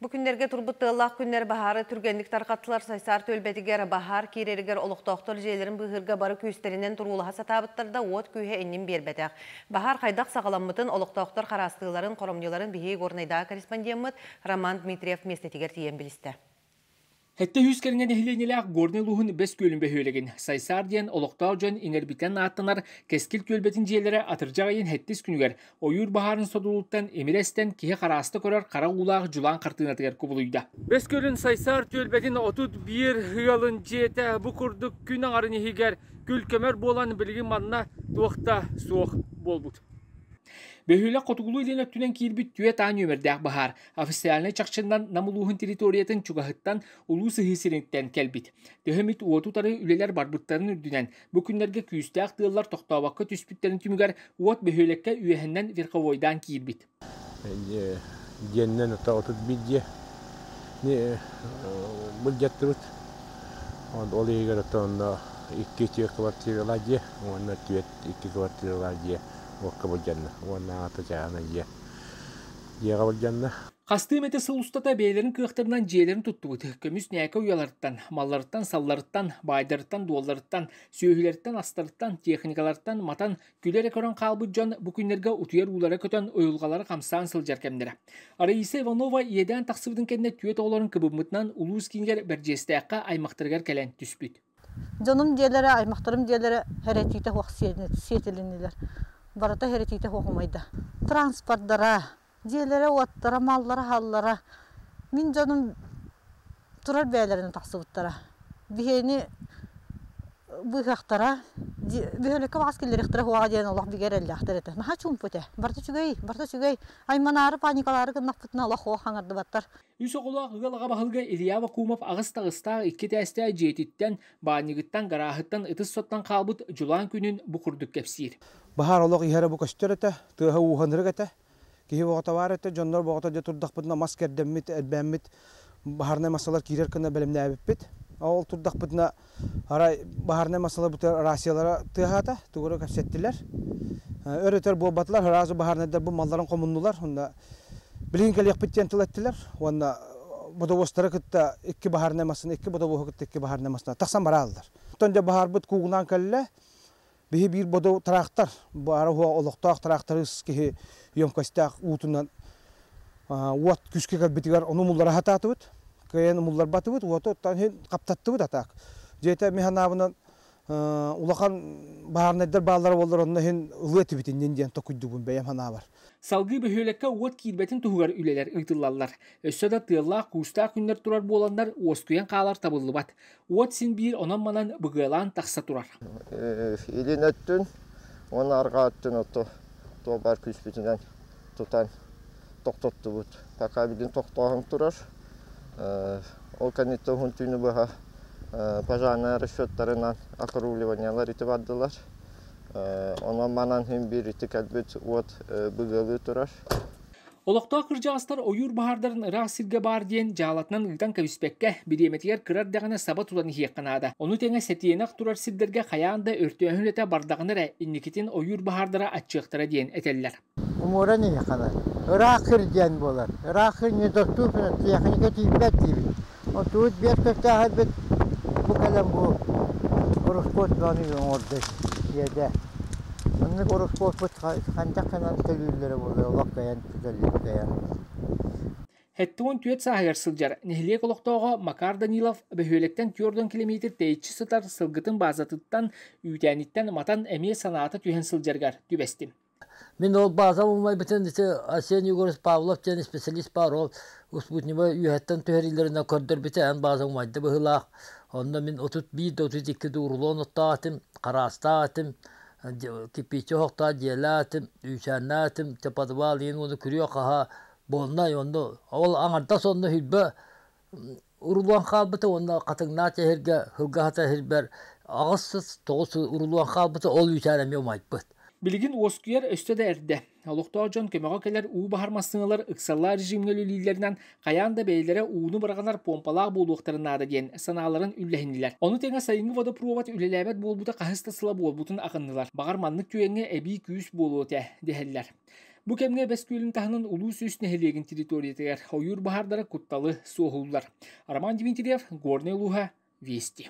Бу күннэргэ турбут тыаллаах күннэр баһаары түргэнник тарҕаттылар. Сайсаар түөлбэтигэр, баһаар киирэригэр олохтоохтор дьиэлэрин быыһыырга бары күүстэринэн туруулаһа сатаабыттар да, уот күүһэ иннин биэрбэтэх. Баһаар хайдах саҕаламмытын, олохтоохтор хараастыыларын, хоромньуларын биһиги Горнайдааҕы корреспондеммыт Роман Дмитриев миэстэтигэр тиийэн билистэ. Сэттэ үһүс кэриҥэ нэһилиэнньэлээх Горнай улууһун Бэс Күөлүн бөһүөлэгин Сайсаар диэн олохтоох дьон иҥэрбитинэн ааттанар Кэскил түөлбэтин дьиэлэрэ атырдьах ыйын хэттис күнүгэр ойуур баһаарын содулуттан имирэ эстэн киһи харааста көрөр хара уулаах дьулаан хартыынатыгар кубулуйда. Бэс Күөлүн Сайсаар түөлбэтин отут биир ыалын дьиэтэ бу курдук күн аҥарын иһигэр күл-көмөр буолан билигин манна туох да суох буолбут. Бөһүөлэк хотугулуу илин өттүнэн киирбит түөрт аан үөмэрдээх баһаар Официальнай чахчынан Нам улууһун территориятын чугаһыттан улуу сыһыы сириттэн кэлбит. Төһө эмит уоту утары үлэлэр барбыттарын үрдүнэн, бу күннэргэ күүстээх тыаллар тохтообокко түспүттэрин түмүгэр уот бөһүөлэккэ үөһэннэн верховойдаан киирбит. Диэннэн ото отут бидje былдьаттыбыт ол иһигэр отонно икки түөрт квартиралар дьиэ уонна түөрт икки квартиралар дьиэ уокка былдьанна уонна аата дьаана дьиэ дьиэҕэ былдьанна Хастыым этэ сыл устата бэйэлэрин кыахтарынан дьиэлэрин туттубут. Көмүс нээкэ уйаларыттан, малларыттан, салларыттан, баайдарыттан, дуолларыттан, сүөһүлэриттэн, астарыттан, техникалартан матан, күлэ эрэ көрөн хаалбыт дьон бу күннэргэ утуйар уулара көтөн, уйулҕалара хамсаан сылдьар кэмнэрэ. Раиса Иванова иэдээн тахсыбытын кэннэ түөрт оҕолорун кыбыммытынан улуус киинигэр Бэрдьиэстээххэ аймахтарыгар кэлэн түспүт. Дьонум дьиэлэрэ, аймахтарым дьиэлэрэ һэрэтиитэ суох сиэтилиннилэр. Барыта һэрэтиитэ суох умайда. Транспордара, дьиэлэрэ-уоттара, маллара-аһаллара мин дьонум турар бэйэлэринэн тахсыбыттара. Биһиэни быыһыахтара, бөһүөлэккэ убаҕас киллэриэхтэрэ суоҕа диэн олох бигэ эрэллээхтэр этэ. Наһаа чуумпут ээ. Барыта үчүгэй, барыта үчүгэй. Айманаары, паникалаары гыннахпытына олох суох хаҥардыбаттар. Үс оҕолоох ыал аҕа баһылыга Илья Вакумов аҕыс таҕыстаах икки тээстээх дьиэтиттэн, баанньыгыттан, гарааһыттан ытыс соттон хаалбыт дьулаан күнүн бу курдук кэпсиир. Баһаар олох иһэрэ бу көстөр этэ, тыаһа ууһан ырык этэ. Киһи боҕотовар этэ, дьоннор боҕото дьэ турдахпытына мас кэрдэммит, элбээммит, баһаарынай массалар киирэр гына бэлэмнээбиппит. Ол турдахпытына Арай баһарынай массалар бутар Россиялара тыаһаата, тугура кэпсэттилэр. Өр-өтөр буолбатылар, ыраазы баһаарынайдар бу малларын хомуннулар уонна билигин кэлиэхпит диэн тыл эттилэр уонна бодобуостары кытта икки баһаарынай массаны, икки бодобуоһу кытта икки баһаарынай массаны тахсан барааллар. Оттон дьэ баһаарбыт куугунаан кэллэ, Биһи биир бодо траактар, баара уһа олохтоох траактары киһи емкостаах уутунан уот күскэ кэлбитигэр ону умуллара хатаатыбыт, кыайан умулларбатыбыт, уоту оттон иһин хаптаттыбыт атаак. Дьиэтэ ми ханаабынан улахан баарнайдар бааллара буоллар онно иһин ылыа этибит иннин диэн токуйдубун бэйэм ханаабар. Салгыы бөһүөлэккэ уот киирбэтин туһугар үлэлэр ыытыллаллар. Өссө да тыаллаах, куустаах күннэр турар буоланнар, уоскуйан хаалар табыллыбат. уот син биир онон-манан быгыалаан тахса турар. Илин өттүн уонна арҕаа өттүн оту туобар күүспүтүнэн тутан тохтоттубут. Пока бидин тохтооһун турар. Ол кэнниттэн уһун түүнү быһа пожарнай расчеттарынан округливаниялар ити бардылар. Онон манан хин биир ити кэлбит уот быгыалыы турар. Олохтоох кырдьаҕастар ойуур баһаардарын ыраах сиргэ баар диэн дьаалатынан ыытан кэбиспэккэ, бириэмэтигэр кыра эрдэҕинэ саба тутан иһиэххэ наада. Ону тэҥэ сэтиэнэх турар сирдэргэ хайаан да өртөөһүн үлэтэ бардаҕына эрэ инникитин ойуур баһаардара аччыахтара диэн этэллэр. Умуоран иһиэххэ наада. Ыраах сир диэн буолар. Ыраах сир не тостуу техника тиийбэт диибин. Отут биэс кэккээһэрбит бу кэлэн бу ороскуот даҕаны оҥордо тиэрдэ. Маннык ороскуоппут хантах гынан төлүүллэрэ буоллар олох кэйэн кэлэн Сэттэ уон түөрт сааһыгар сылдьар нэһилиэк олохтооҕо Макар Данилов бөһүөлэктэн түөрт килэмиэтир тэйиччи сытар сылгытын баазатыттан үүтээниттэн матан эмиэ санаата түһэн сылдьарыгар түбэстим. Мин ол баазам умайбытын ити Арсений Егорович Павлов диэн специалист баар ол спутниковай үөһэттэн түһэриилэринэн көрдөрбүтэ эн бааза умайда быһыылаах онно мин отут биир да отут икки да урлон оттоотум хараастаатым кирпиччэ оһохтоох дьиэлээтим үүсээннээтим чэ подвал иһин уону күрүө хаһаа буолнай онно ол аҥардас онно Урулуон хаалбыта уонна Хатыҥнаах сэһэргэ Сылгаһата сэһэрбэр аҕыс сыс тоҕус урулуон хаалбыта ол үүтээри эмиэ умайбыт. Билигин уоскуйар өссө да эрдэ. Олохтоох дьон көмөҕө кэлэр уу баһар массыыналар ыксаллаах режимҥэ үлэлииллэринэн хайаан да бэйэлэрэ ууну быраҕынар помпалаах буолуохтарын наада диэн санааларын үллэһиннилэр. Ону тэҥэ сайыҥҥы водопровод үлэлээбэт буолбута хаһыс да сыла буолбутун ахыннылар. Баҕар маннык түгэҥҥэ эбии күүс буолуо этэ, дэһэллэр. Бу кэмҥэ Бэскүүлүн таһынан улуус үс нэһилиэгин территориятыгар ойуур баһаардара кутталы суоһууллар. Роман Дмитриев, Горнай улууһа, Вести.